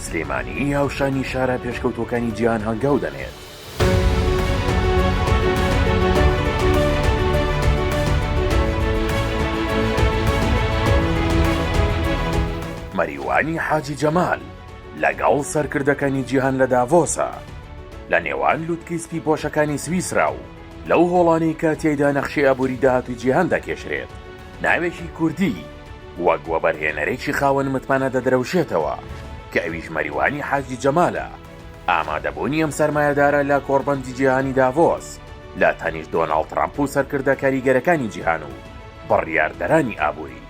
سلێمانی هاوشانی شارە پێشکەوتووەکانی جیهان هەنگاو دەنێت. مەریوانی حاجی جەمال لەگەڵ سەرکردەکانی جیهان لە داڤۆسە لە نێوان لوتکەی سپی پۆشەکانی سویسرا و لەو هۆڵانەی کە تیایدا نەخشەی ئابووری داهاتووی جیهان دەکێشرێت. ناوێکی کوردی وەک وەبەرهێنەرێکی خاوەن متمانە دەدرەوشێتەوە، کە ئەویش مەریوانی حاجی جەمالە، ئامادەبوونی ئەم سەرمایەدارە لە کۆڕبەندی جیهانی داڤۆس لە تەنیشت دۆناڵد ترەمپ و سەرکردە کاریگەرەکانی جیهان و بڕیاردەرانی ئابووری،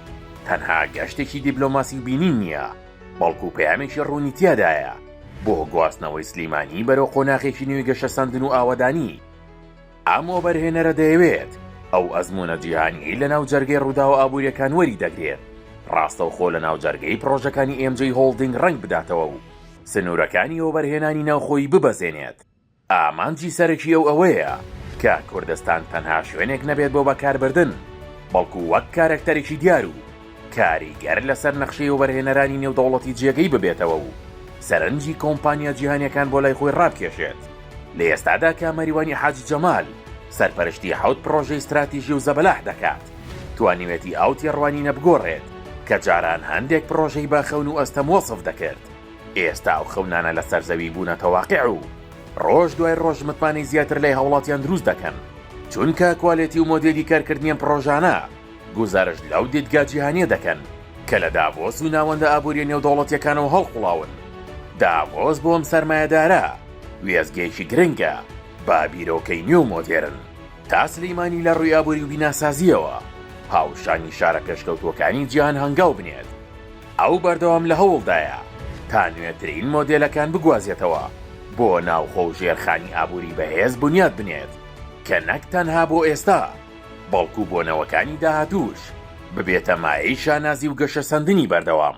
تەنها گەشتێکی دیبلۆماسی بینین نییە، بەڵکو پەیامێکی ڕوونی تیادایە بۆ گواستنەوەی سلیمانی بەرەو قۆناغێکی نوێی گەشەسەندن و ئاوەدانی. ئەم وەبەرهێنەرە دەیەوێت ئەو ئەزموونە جیهانییەی لەناو جەرگەی ڕووداوە ئابوورییەکان وەری دەگرێت، ڕاستەوخۆ لەناو جەرگەی پڕۆژەکانی ئێم جەی هۆڵدینگ ڕەنگ بداتەوە و سنوورەکانی وەبەرهێنانی ناوخۆیی ببەزێنێت. ئامانجی سەرەکی ئەو ئەوەیە کە کوردستان تەنها شوێنێک نەبێت بۆ بەکاربردن، بەڵکو وەک کارەکتەرێکی دیار و کاریگەر لەسەر نەخشەی وەبەرهێنەرانی نێودەوڵەتی جێگەی ببێتەوە و سەرنجی کۆمپانیا جیهانیەکان بۆ لای خۆی ڕابکێشێت، لە ئێستادا کامەریوانی حاجی جەمال سەرپەرشتی حەوت پڕۆژەی ستراتیژی و زەبەلاح دەکات، توانیوێتی ئەو تێڕوانینە بگۆڕێت کە جاران هەندێک پڕۆژەی بە خەون و ئەستەم وەسف دەکرد، ئێستا ئەو خەونانە لەسەر زەوی بوونەتە واقع و ڕۆژ دوای ڕۆژ متمانەی زیاتر لای هاوڵاتیان دروست دەکەن، چونکە کوالێتی و مۆدێلی کارکردنی ئەم پڕۆژانە گوزارشت لەو دیدگا جیهانییە دەکەن کە لە داڤۆس و ناوەندە ئابوورییە نێودەوڵەتییەکانەوە هەڵقوڵاون. داڤۆس بۆ ئەم سەرمایەدارە وێستگەیەکی گرنگە بە بیرۆکەی نوێ و مۆدێرن. تا سلیمانی لە ڕووی ئابووری و بیناسازییەوە هاوشانی شارە پێشکەوتووەکانی جیهان هەنگاو بنێت، ئەو بەردەوام لە هەوڵدایە تا نوێترین مۆدێلەکان بگوازێتەوە بۆ ناوخۆ و ژێرخانی ئابووری بەهێز بنیات بنێت کە نەک تەنها بۆ ئێستا، بەڵکو بۆ نەوەکانی داهاتووش ببێتە مایەی شانازی و گەشەسەندنی بەردەوام.